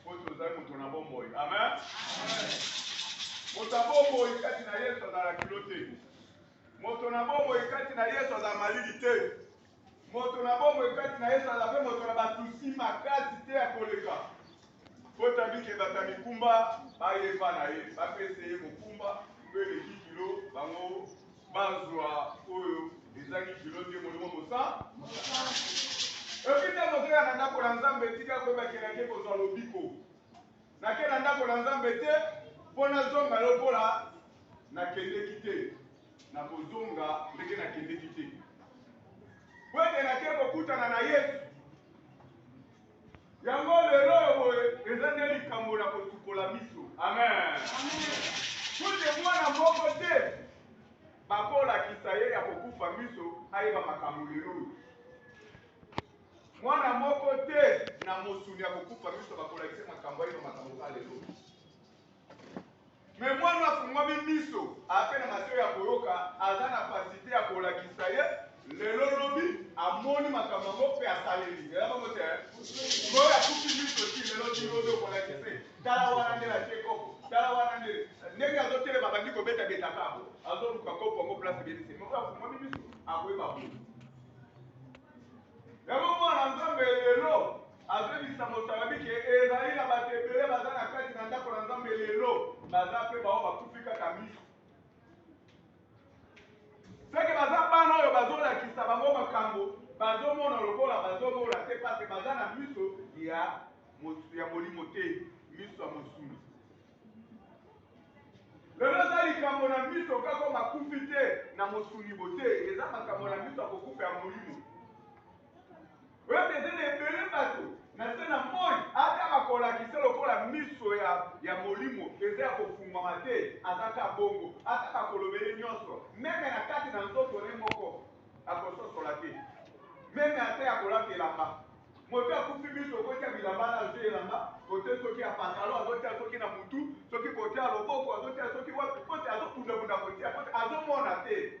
Mpo tozali moto na bomoi. Amen. Moto na bomoi kati na Yesu azala kilo te. Moto na bomoi kati na Yesu azala malili te. Moto na bomoi kati na Yesu azala mpe moto na basusi makasi te ya koleka. Mpo tabike bato ya mikumba bayeba na ye, bapese ye mokumba mpe eleki kilo bango bazwa oyo ezangi kilo te molimo mosa epi ntango ozoya na ndako na nzambe etika koyeba ke nake kozwa lobiko nake na ndako na nzambe te mpo nazonga lokola nakendeki te nakozonga ndenge nakendeki te mpo ete nake kokutana na yesu Yango lelo oyo boye eza nde likambo na kosukola miso. Amen. Kutu mwana moko te bakolakisa ye ya kokufa miso ayeba makambo lelo oyo. Mwana moko te na mosuni ya kokufa miso bakolakisa makambo ayeba makambo ka lelo. Mais mwana afungwami miso ape na matoyi ya koyoka aza na pasite ya kolakisa ye lelo lobi amoni makambo yango pe asaleli eza bongo te oyo akufi miso ti lelo ti lobi okolakise tala wana nde atie koko tala wana nde ndenge azotelema bandi kobetabeta kabo azoluka kopo yango place ebebisi moko afungwami miso akoyeba boni yango mwana nzambe lelo Azobebisa mosalabi ke ezali na bato ebele baza na kati na ndako na Nzambe lelo baza mpe bao bakufi kaka miso seke baza bana oyo bazolakisa bango makambo bazomona lokola bazomona te pase baza na miso ya ya molimo te miso ya mosuni lelo eza likambo na miso kaka makufi te na mosuni bote eza makambo na miso ya kokufa ya molimo Oyebi eza na ebele bato na se na moi, ata bakolakisa lokola miso ya ya molimo eza ya kofungwama te, aza ka bongo, ata bakoloba ye nionso, meme na kati na nzoto ne moko akososola te, meme ata ya kolata elamba. Moto akufi miso okotia bilamba na se ya elamba kote soki ya pantalon azotia soki na mutu soki kote ya loboko azotia soki wapi kote azobundabunda kotia kote azomona te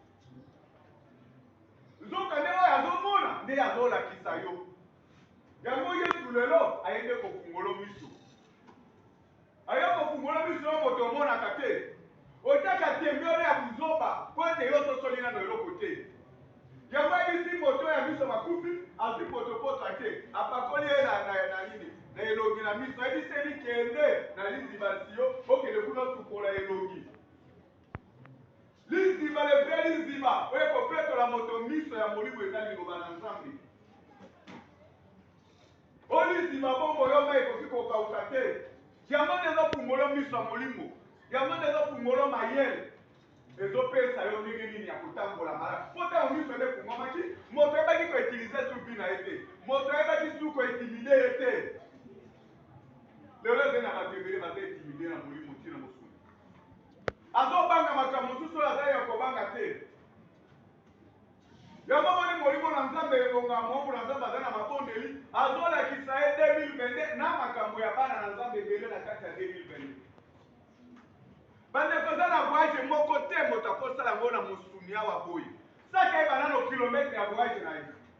nzoka nde oyo azomona nde azolakisa yo yango yesu lelo aye nde kofungolo miso aye kofungolo miso yo moto omonaka te otyaka tembe wana ya buzoba mpo ete yo ososoli nano eloko te yango abisi moto ya miso makufi azwi potopoto te apakoli ye na nini na elongi na miso ayebiseli kende na liziba siyo okende kuna osukola elongi Liziba, le vrai liziba oyo ekopetola moto miso ya molimo eza liloba na Nzambe. O liziba bongo yo mai ekoki kokauka te. Yango nde ezofungola miso ya molimo, yango nde ezofungola mayele ezopesa yo ndenge nini ya kotambola malamu mpo ntango miso ebe efungwamaki moto ayebaki koutilize suki na ye te moto ayebaki su kointimide ye te lelo eze na bato ebele baza intimide na molimo ntina mosuni Azobanga makambo mosusu oyo aza ya kobanga te. Yango omoni Molimo na Nzambe elonga, moango na Nzambe aza na mabondeli, azolakisa ye 2022 na makambo ya bana na Nzambe ebele na kati ya 2022. Bandeko eza na voyage moko te moto akosala yango na mosuni awa boye. Saka ye banano kilomètre ya voyage na ye.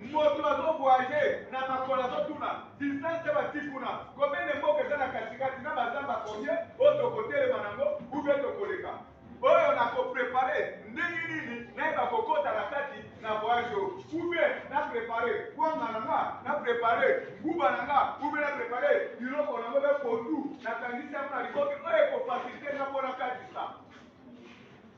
Moto azo voyage na makolo azo tuna distance ya ba ti kuna combien de mboka eza na kati kati na ba zamba combien oyo toko telema na ngo ou bien toko leka oyo na ko prepare ndenge nini nayeba ko kota na kati na voyage oyo ou bien na prepare kwanga na nga na prepare nguba na nga ou bien na prepare biloko na ngo be pondu na kangisi yango na liboke oyo eko facilite nga pona kati sa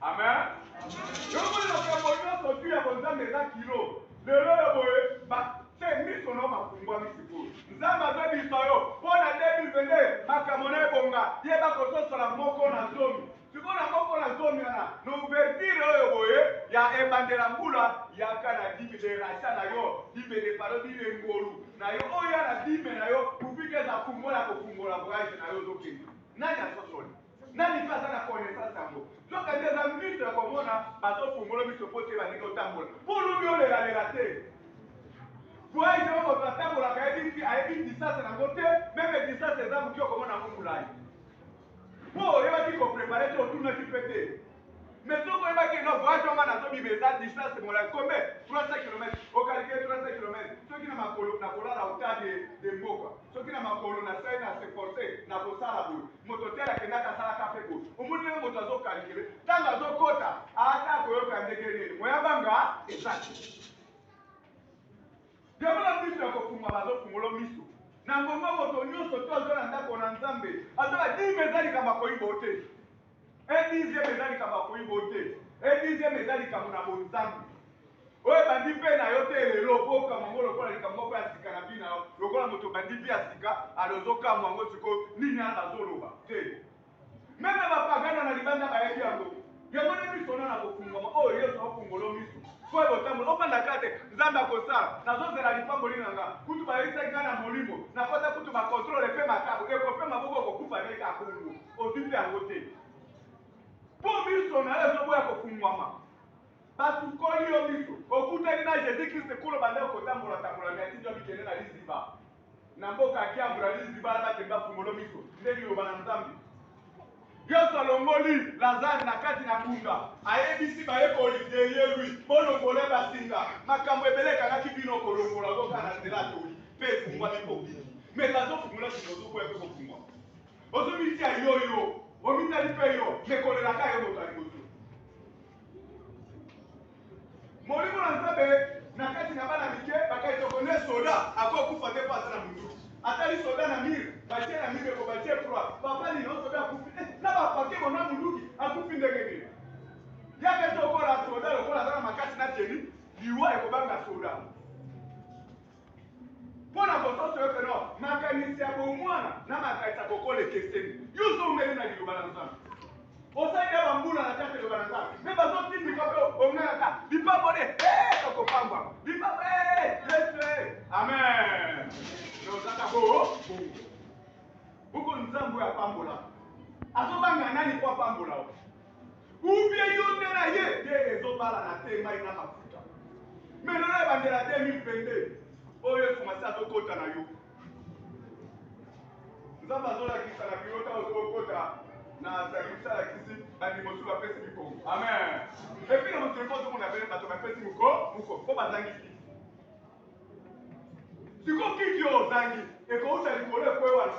Amen. Yoko na makambo nyonso tu ya bonzambe eza kilo. Lelo ya boye ba se miso na mafungwami sikoyo. Nzambe azobisa yo mpo na 2022 makambo na ebonga yeba kososola moko na zomi. Sikoyo na moko na zomi wana na ouverture oyo boye ya ebandela mbula yaka na dime de racha na yo dime de palo dime ngolu na yo oya na dime na yo kufika eza fungola kofungola voyage na yo ozokende nani asosoli Nani pe aza na connaissance yango? Nzoka nde eza miso ya komona bazo fungola miso po te balingi otambola po olobi olela lela te voyage yango moto atambolaka ayebi ti ayebi distance nango te meme distance eza mukie okomona yango mulayi po oyebaki ko prepare te otunaki pe te Mais soki oyeba que non voyage wana nazo bima eza distance molayi combien 300 kilomètre o calculer 300 kilomètre soki na makolo na kolala autant de de mboka soki na makolo na sali na se forcer na kosala boye moto tel akendaka asalaka pe boye omoni ndenge moto azo calculer tango azo kota ata koyoka ndenge nini moya banga ezaki yango na miso ya kofunga bazo fungolo miso na ngongo moto nyonso to azo na ndako na nzambe azo na dime eza likambo akoyi bote Un dixième eza likambo ya koyibo te, un dixième eza likambo na bonzambe oyo ebandi mpe na yo te lelo mpo okamwa yango lokola likambo moko ya sika na vie na yo, lokola moto obandi vie ya sika alors ozokamwa yango sikoyo nini wana bazoloba te. Meme ba pagano na libanda bayebi yango. Yango nde miso na nakofungwama oyo Yesu akofungola miso mpo ebe otamboli ofanda kaka te Nzambe akosala nazozela lipamboli na nga kutu bayebisaki nga na molimo nakota kutu bakontrole mpe makabo ekopema boko okokufa ndenge akongo Ozwi mpe yango te? Mpo miso na yo ezoboya kofungwama. Basukoli yo miso. Okutani na Jesus Christ nkolo banda yo kotambola tambola mais atindi yo bikende na liziba. Na mboka Kiambu na liziba na bateli bafungolo miso. Nde liloba na Nzambe. Yesu alongoli Lazare na kati na kunda. Ayebisi bayekoli derrière lui bolongola basinga. Makambo ebele ekangaki bino kolongola boka na nzela atoli mpe efungwami mpo obiki. Mais bazofungola singa ozoboya mpe kofungwama. Ozo mitia yo yo omitali pe yo mais kolela ka yo moto ya liboso. Molimo na Nzambe na kati na bana mike bakai toko ne soda ako kufa te po aza na munduki. Atali soda na mur batie na mur eko batie croix papa ni no soda akufi eh, na ba pake bona munduki akufi ndenge nini? Yaka tokola soda lokola aza na makasi na teni liwa eko banga soda. mpo na kososo yo peno makanisi ya bomwana na makanisi ya kokola ekeseni yo zongeli na liloba na nzambe osali ya bambula na kati liloba na nzambe me bazotindika mpe ongalaka lipambole okopambwa lipambo yesu amen ozaka bo buku nzambe oyo apambola azobanga nani mpo apambola ou bien yo nde na ye nde ezobalana te mai na mafuta mais lelo ebandela 2022 oyo yesu masi azokota na yo nzambe azolakisa na biro ntango tokokota na sakrifisi alakisi bandimi mosusu bapesi mikongo amen epi na mokili mpo ozomona bene bato bapesi moko moko mpo bazangi kiti sikoyo kiti oyo ozangi ekouta likolo ekwe wana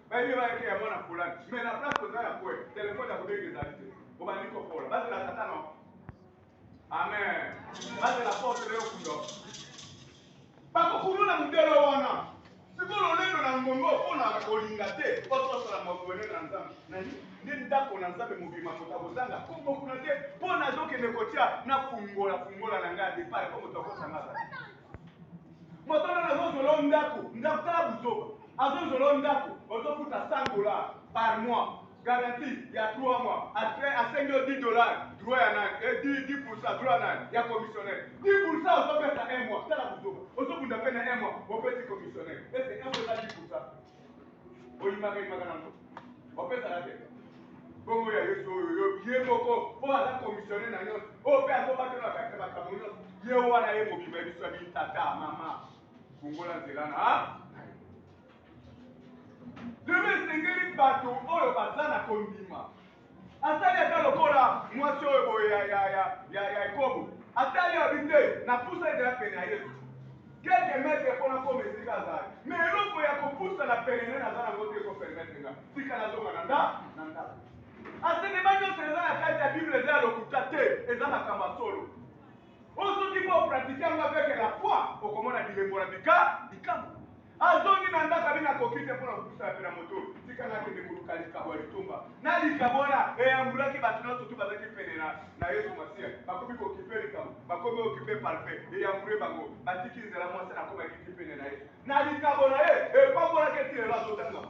bayebi bayeke ya mwana fulani me na place oza ya kwe telefone ya kobenga ezali te obandi kopola bazela tata no amen bazela porte leo kundo bakokuluna modele wana sikoyo lolendo na ngongo mpo na kolinga te otosola mokone na nzambe nani nde ndako na nzambe mobima moto akozanga kongo kuna te mpo nazokende kotya na fungola fungola na ngai ya depart mpo moto akosanga azali Moto wana azo zela yo ndaku ndaku tala buzoba azo zela yo ndaku ozo futa 100 dollars par mois garantie ya 3 mois après asengi yo 10 dollars droit ya nani et 10 10% droit nani ya commissionnaire 10% ozo pesa un mois tala buzoba ozo bunda pe na un mois opesi commissionnaire est ce que un mois eza 10% oyimaka yimaka nango opesaka te bongo ya yesu oyo yo ye moko oyo aza komisionne na nyonso oyo mpe azobate na kati ya makambo nyonso ye wana ye mobima biso ya bini tata mama fungola nzela na lelo esengeli bato oyo baza na kondima Asali ata lokola mwasi oyo boye ya, ya, ya, ya, ya ekobo. Atali ya bi te, napusa ete aya pene ya Yesu. Quelques mètres mpo nakoma esika azali. Mais eloko ya kopusana pene na ye naza nango te eko permettre nga. Tika nazonga na nda, na ndako. Asenema nionso eza na kati ya Bible eza ya lokuta te, eza makambo ya solo. Oyo soki bo pratique yango avec la foi, okomona bilembo na bika bikamwa. Azongi na ndako abi nakoki te mpo na kopusa ya pena moto, tika nga kende koluka likabo ya litomba. Na likabo wana eyambulaki bato nionso tout bazalaki pene na na Yesu Masiya. Bakomi ko kipe likabo, bakomi o kipe parfum, eyambule bango, batiki nzela mwasi wana akomaki ti pene na ye. Na likabo na ye epambolaki ye ti lelo azotangama.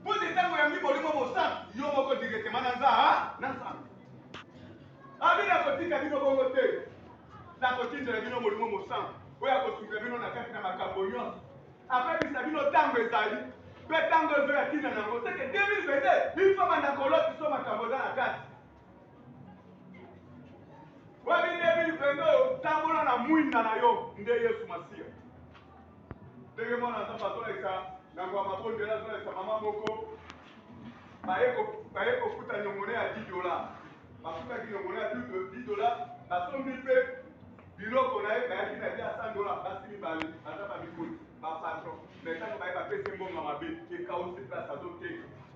Mpo te ntango oyambi Molimo Mosantu, yo moko directement na nza, na Nzambe. Abi nakotika bino bongo te. Nakotindela bino Molimo Mosantu oyo akosunga bino na kati na makambo nyonso. Akobebisa bino ntango ezali mpe ntango ezoya ntina na yango seke 2022 il faut banda kolotisa makambo eza na kati Wabi 2022 oyo tambola na mwinda na yo nde Yesu Masiya. Ndenge mwana na Nzambe azolakisa na ngwa mabondela azolakisa mama moko baye kofuta nyongone ya 10 dola bafutaki nyongone ya 10 dola basombi mpe biloko na ye bayaki na bia 100 dola basi mibale baza bamikoli bapatron me ntango baye bapesi mbongo mabe ekausi place azoteka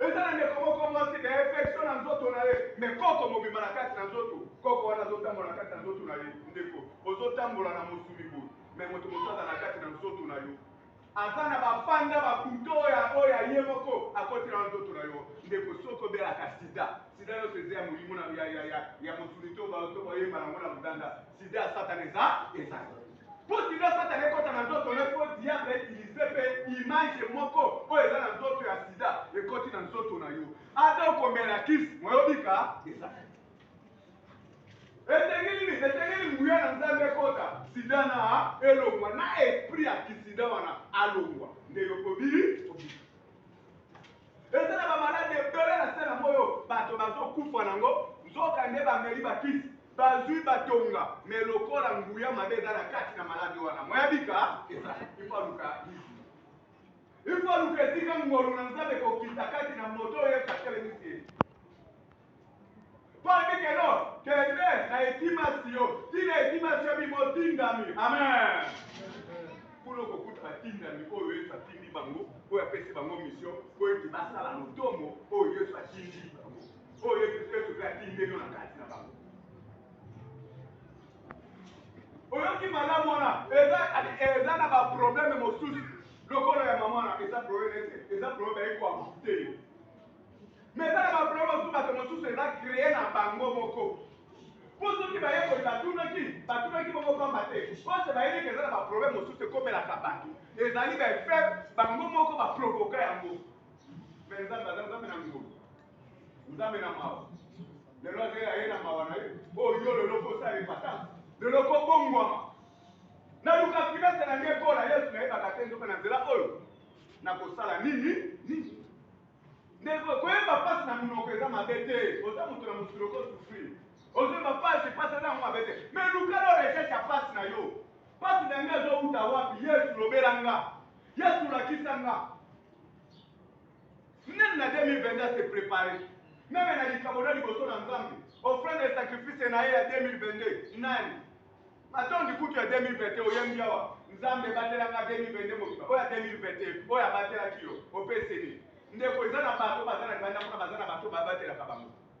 Eza na ndeko moko mwasi ba infection na nzoto na ye mais koko mobimba na kati na nzoto koko wana azo tambola na kati na nzoto na ye ndeko ozo tambola na mosuni boye mais moto mosusu aza na kati na nzoto na yo aza na ba fanda ba couteau ya oyo ya ye moko akoti na nzoto na yo ndeko soki obelaka sida sida nyonso eza ya molimo na ya ya ya ya mosuni to ba to bayemba na ngo na mudanda Sida ya Satana eza ezali mpo sida ya Satana ekota na nzoto na mpo diable utilize mpe image moko oyo eza na nzoto ya sida ekoti na nzoto na yo ata okomela kisi moyobika ezali esengeli nini esengeli nguya na nzambe ekota sida na elongwa na esprit ya kisida wana alongwa nde yokobi obika eza na bamaladi ebele na se na moyo bato bazokufa nango nzoka nde bameli bakisi bazui ba tonga mais lokola nguya mabe eza na kati na malade wana moya bika eza il faut aluka il faut aluka esika ngolu na nzambe kokita kati na moto oyo yesu atelemisi ye mpo alobi keno kende na etimasi yo tina etimasi yo bimo tindami amen kuna okokuta batindami oyo yesu atindi bango oyo apesi bango misio mpo ete basala motomo oyo yesu atindi bango oyo yesu kristo mpe atindelo na kati na bango oyoki malamu wana eza na baprobleme mosusu lokola ya mama wana eza probleme ete eza probleme baye koamoute yo mais eza na baprobleme mosusu bato mosusu eza kreye na bango moko mpo soki bayekoli batunaki batunaki bongo pamba te ose bayebi ke eza na baprobleme mosusu ekomelaka bato ezali baefet bango moko baprovoka yango mais nzambe aza nzambe na ngolu Nzambe na mawa. Lelo azela ye na mawa na ye. Oyo oh, yo lelo kosala repatance. Lelo kobongwama. Naluka finance na ngai ekola Yesu nayebaka te nzoka na nzela oyo. Nakosala nini? Nini? Ndeko koyeba mpasi na monoko eza mabe te. Oza moto na mokili okosufri. Ozoyeba mpasi, mpasi eza yango mabe te. Me luka lo recherche ya mpasi na yo. Mpasi na ngai ezowuta wapi? Yesu lobela nga. Yesu lakisa nga. Nani na 2022 a se preparer meme na likambo na liboso na Nzambe? Offrande et sacrifice na ye ya 2022 nani? Matondi kutu ya 2021 oyembi awa Nzambe batela nga 2022 mobimba oyo ya 2021 oyo abatelaki yo opesi nini? Ndeko eza na bato baza na libanda kuna baza na bato babatelaka bango.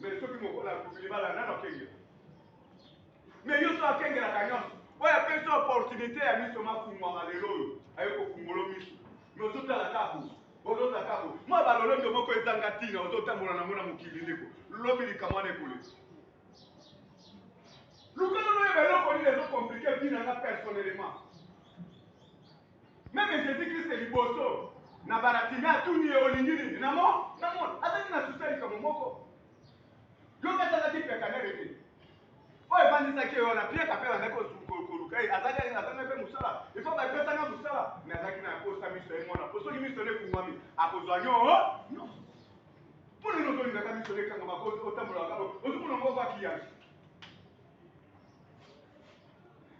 Mais soki mokolo akufi libala nano akengela. Mais yo so akengelaka nyonso. Oyo apesi opportunité ya miso mafungwama lelo oyo aye kofungolo miso. Mais ozotala kaka boye. Ozotala kaka boye. Mwa balolendo moko ezanga ntina ozotambola nango na mokili ndeko. Lobi likambo wana ekoleka. Luka nano oyeba eloko nini ezo compliquer vie na nga personnellement. Meme Jesus Christ liboso na Baratime atuni ye olingi nini? Na mo na mo azali na susi ya likambo moko. Yo kasi azaki piakanere te. Oyo evandisaki ye wana piaka mpe bandaki koluka ye azali azanga mpe mosala ifo bapesanga mosala me azalaki na kosa miso ye mwana mpo soki miso nekungwami akozwa nyo nyonso mpo nini ozolingaka miso nekangama otambolaka ozomonango obakiyangi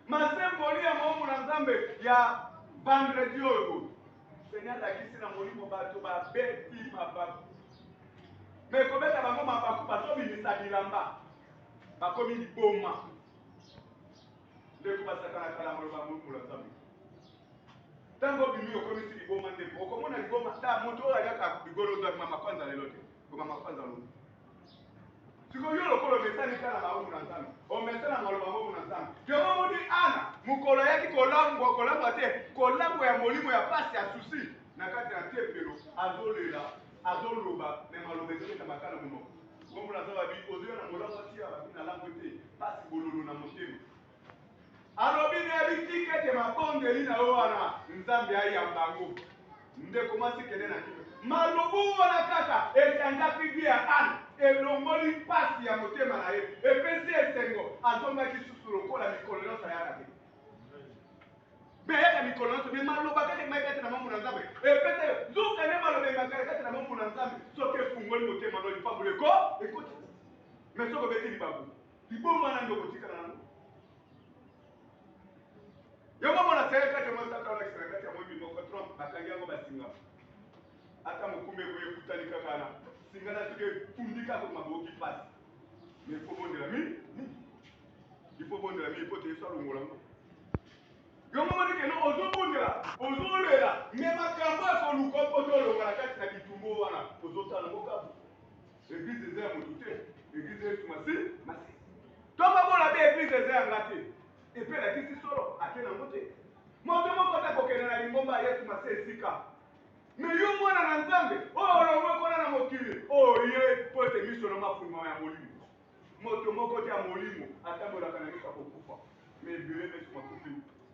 masemboli ya moombo na nzambe ya vendredi oyo seigneur alakisi na molimo bato babeti mabaku me kobeta bango mabaku bazobimisa bilamba bakomi liboma ndeko basakanaka na maloba moombo na nzambe ntango obimi okomisi liboma ndeko okomona liboma ta moto oyo aliaka ligolo ozo abima makwanza lelo te koma makwanza lobi siko yo lokola omesani mpe na maboko na nzambe omesana na maloba maboko na nzambe yango omoni ana mokolo ayaki kolangwa kolangwa te kolangwa ya molimo ya mpasi ya susi na kati ya tempelo azolela azoloba me maloba ezoketa makala monoko ngombo na zababi ozoya na molangwa tia babi na langwe te mpasi bololo na motema Alobi na ye bitika ete mabondeli na yo wana Nzambe ayamba yango. Ndeko mwasi kende na kimia. Malobu wana kaka echangeaki vie ya Anne, elongoli mpasi ya motema na ye, epesi ye esengo, azongaki lisusu lokola mikolo nyonso ayaka te. Mais ayaka mikolo nyonso, mais maloba kaka emaki kati na mambo na Nzambe epesa yo nzoka nde maloba emakala kati na mambo na Nzambe, soki efungoli motema na yo lipamboli eko ekoti, mais soki obeti libaku Liboma nani okotikala nango? Yango mona tsaye kati yango sata wana kisaka kati yango ebi moko Trump bakangi yango basinga. Ata mokumba ekoye kutani kaka na singa na soki efundi kaka maboki pasi. Mais faut bondela mi mi. Il faut bondela mi faut te yesu alongola ngo. Yango moni ke no ozo bondela, ozo lela, mais makambo ya koluka mpo tolonga na kati na bitumbo wana ozo tala ngo kabu. Eglise eza ya mutu te, eglise ya Yesu Masiya. Toko bona be eglise eza ya nga te. Epe elakisi solo ake na ngo te. Moto moko te kokende na lingomba ya Yesu Masiya esika. Me yo mwana na Nzambe, oyo olongwe kuna na mokili, oye po ete miso na mafungwama ya molimo. Moto moko te ya molimo atambolaka na miso ya kokufa. Me ebele na biso makufi.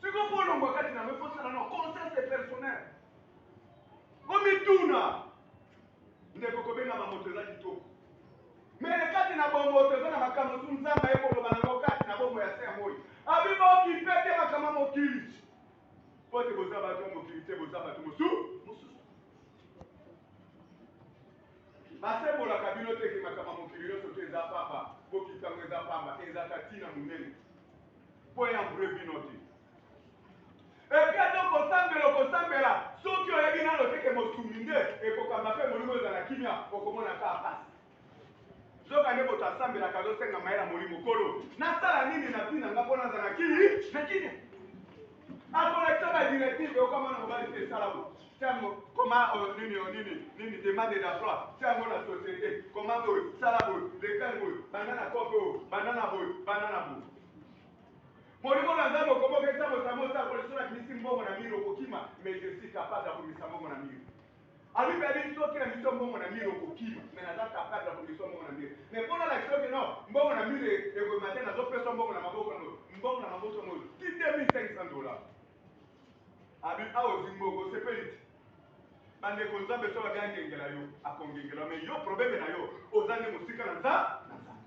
Siko kolongwa kati na yango ekosala na conscience de personnel. Omituna ndeko kobengama moto eza kitoko mele kati na bomoto eza na makambo tu nzambe aye koloba na yango kati na bomoi ya se ya moi abi bokipe te makambo ya mokili mpo te boza bato ya mokili te boza bato mosusu mosusu basembolaka bino te ke makambo ya mokili nyonso te eza pamba bokipe yango eza pamba ezaka ntina monene Point ya vrai bino te. Epi ata okosambela okosambela soki oyebi nano te ke mosuni nde ekokamba mpe molimo ezala kimia okomona kaka pasi. Zoka nde moto asambelaka azosenga mayela molimo kolo nasala nini na vie na nga mpo nazala na kimia. akolakisa ba directive yoka mwana mobali te esalama tiango koma euh, nini euh, nini nini demande d'emploi tiango na société koma boye sala boye lekali boye banda na kope oyo banda na boye banda na boye molimo na nzambe okobokesa mosamosa kolisona kimisi mbongo na mire okokima mais je suis capable ya komisa mbongo na mire Alobi ba bi soki na miso mbongo na mur okokima mais naza capable ya komeswa mbongo na mur mais po na lakisa yo que non mbongo na mur ekobima te nazo peswa mbongo na maboko na ngoyo mbongo na maboko na ngoyo ti 2500 dollars abi awa ozwi mbongo osepeli ti bandeko nzambe soki abi angengela yo akongengela yo mais yo probleme na yo oza nde mosika na nza na nzambe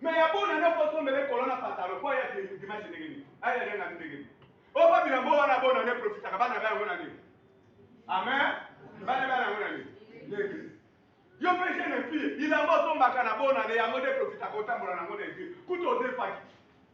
Mais ya bona na ko sombe le kolona patalo po ya de dimanche ndenge nini? Aye ya na ndenge nini? O ba bila mbo wana bona ne profita ka bana ba ngona nini? Amen. Bana ba ngona nini? Ndenge. Yo pe je ne fille, il a mbo somba ka na bona ne ya ngo de profita ko tambola na ngo de vie. Kuto de faki.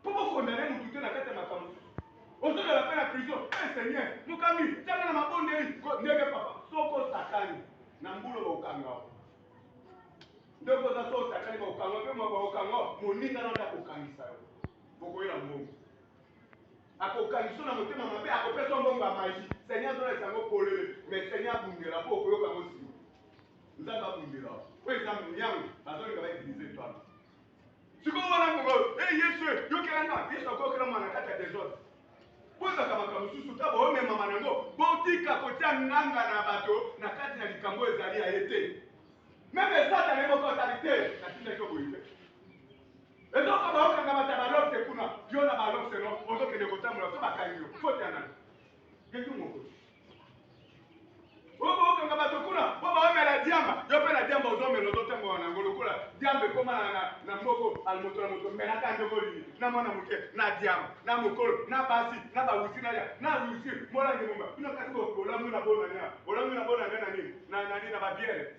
Mpo bo condamner mutu te na kati ya makambo. Ozo lala mpe na prison. Eh seigneur, mokambi tia nga na mabondeli. Ndenge papa, soki osakani na mbula bako kanga yo. Ndeko oza soki osakani bako kanga mpe mwa bako kanga moninga na yo nde ako kangisa yo. Boko yela mbongo. Ako kangisa na motema mabe, ako pesa mbongo ya magie. Seigneur azo lakisa ngo polele, mais seigneur abundela mpo okoyoka ngo sima. Nzambe abundela yo. Oyo eza miango bazo linga ba utiliser toi. sikoyo wana moko e eh, yesu eh, yokela nga yesu akokela mwana kati ya desordre bozaka makambo mosusu ta bomemama nango botika kotya nganga na bato na kati na likambo ezali ya ye te meme satana ye moko azali te natindaki yo boye te ezoko baokanga bata balokte kuna yo na balokte no ozokende kotambola so bakangi yo fote ya nani ngetu moko okanga bato kuna mpo baomela diamba yo mpe na diamba ozomela ozotambola nango lokola diamba ekoma na moko alimoto na moto melaka ndenge olingi na mwana moke na diamba na mokolo na basi na bawusi na ya na wisi molangi momba bino kasi olamwi na bona nia olamwi na bona nia na nini na nani na babiere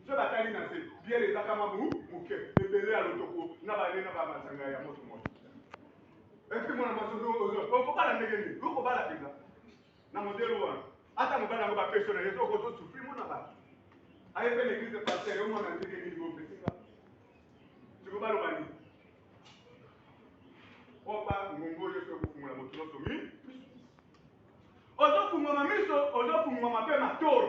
so batali na se biere ezaka mwa moke ebele ya lotoko na bane na bamasanga ya moto moto epi mwana mwasi okobala ndenge nini okobala mpenza na modele wana ata mobali yango bapesi na ye soko tozosufri mona bato aye mpe na eglise paster yo mwana ndenge nini bopesinga siko baloba nini oba ngongo oyo soki kofungola moto nyonso mi ozofungwama miso ozofungwama mpe matolo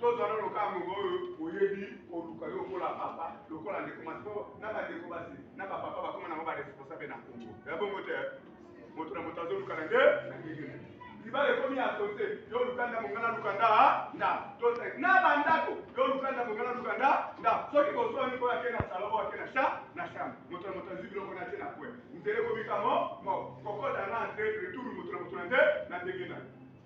Tozwa nano ka ngonga oyo oyebi koluka yo okola papa lokola ndeko mwasi po na bandeko basi na bapapa bakoma nango baresponsable na Congo ya bongo te moto na moto azoluka na nde na ndenge na libala ekomi ya sote yo luka ndambo ngai naluka nda nda tote na bandako yo luka ndambo ngai naluka nda nda soki boswani oyo ake na salo oyo ake na cha na chambre moto na moto azwi biloko na te na pwe nzela ekomi kamo moko kokota na entre retour moto na moto na nde na ndenge na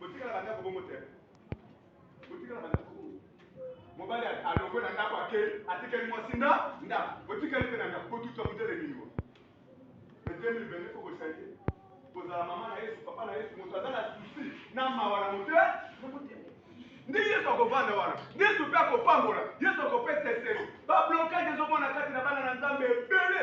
Botikala na ndako bongo te botikala na ndako bongo mobali alongwe na ndako ake atikeli mwasi nda nda botikali mpe na ndako botuta motele mingo na 2020 fo bosange kozala mama na yesu papa na yesu moto aza na susi na mawa na mote na motema nde yesu akovanda wana nde yesu mpe akopambola yesu akopesa eseli bablokage ezomona kati na bana na nzambe ebele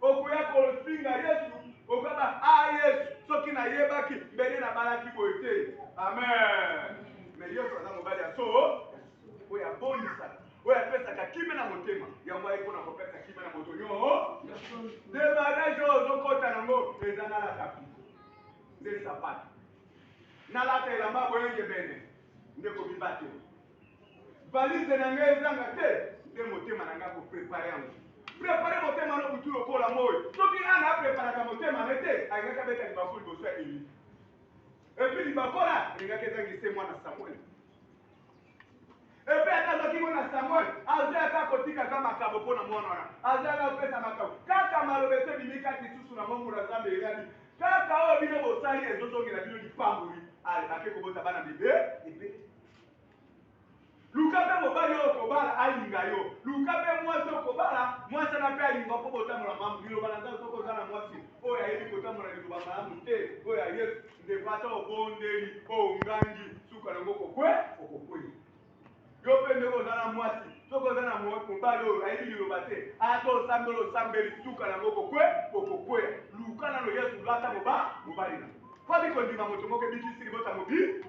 okoya kofinga yesu okaba a ah, yesu soki nayebaki mbele nabalaki boye te amen me yesu aza mobali ya so oyo abondisaka oyo apesaka kimia na motema yango ayi mpona kopesa kimia na moto nyoo demarage oyo ozokɔta yango eza nalata piko nde sapata nalata elamba boyengebene nde kobibatela Valise na nga ezanga te nde motema na nga ko prepare yango prepare motema no butu lokola moi soki ana apreparaka motema ne te alingaki abeta libaku liboso ya eli epi libaku wana elingaki ezangi se mwana samuel epe ata azwaki ngo na samuel azwi ata kotikaka makabo mpo na mwana wana azwi ata kopesa makabo kaka maloba ete ebimi kati susu na mongo na zambe eyabi kaka oyo bino bosali ezozongela bino lipamboli ale ake kobota bana bebe ebele Luka mpe mobali oyo okobala alinga yo. Luka mpe mwasi oyo okobala, mwasi wana mpe alinga yo mpo botambola malamu. Liloba na Nzambe, soki oza na mwasi oyo ayebi kotambola liloba malamu te, oyo ya Yesu, ndeko, ata obondeli, ongangi, suka nango kokwe, okokwea. Yo mpe ndeko oza na mwasi, soki oza na mobali oyo ayebi liloba te, ata osambeli osambeli, suka nango kokwe, okokwea. Luka nano Yesu, lata mobali na mpo abiki kondima moto moko ebikisi libota mobimba.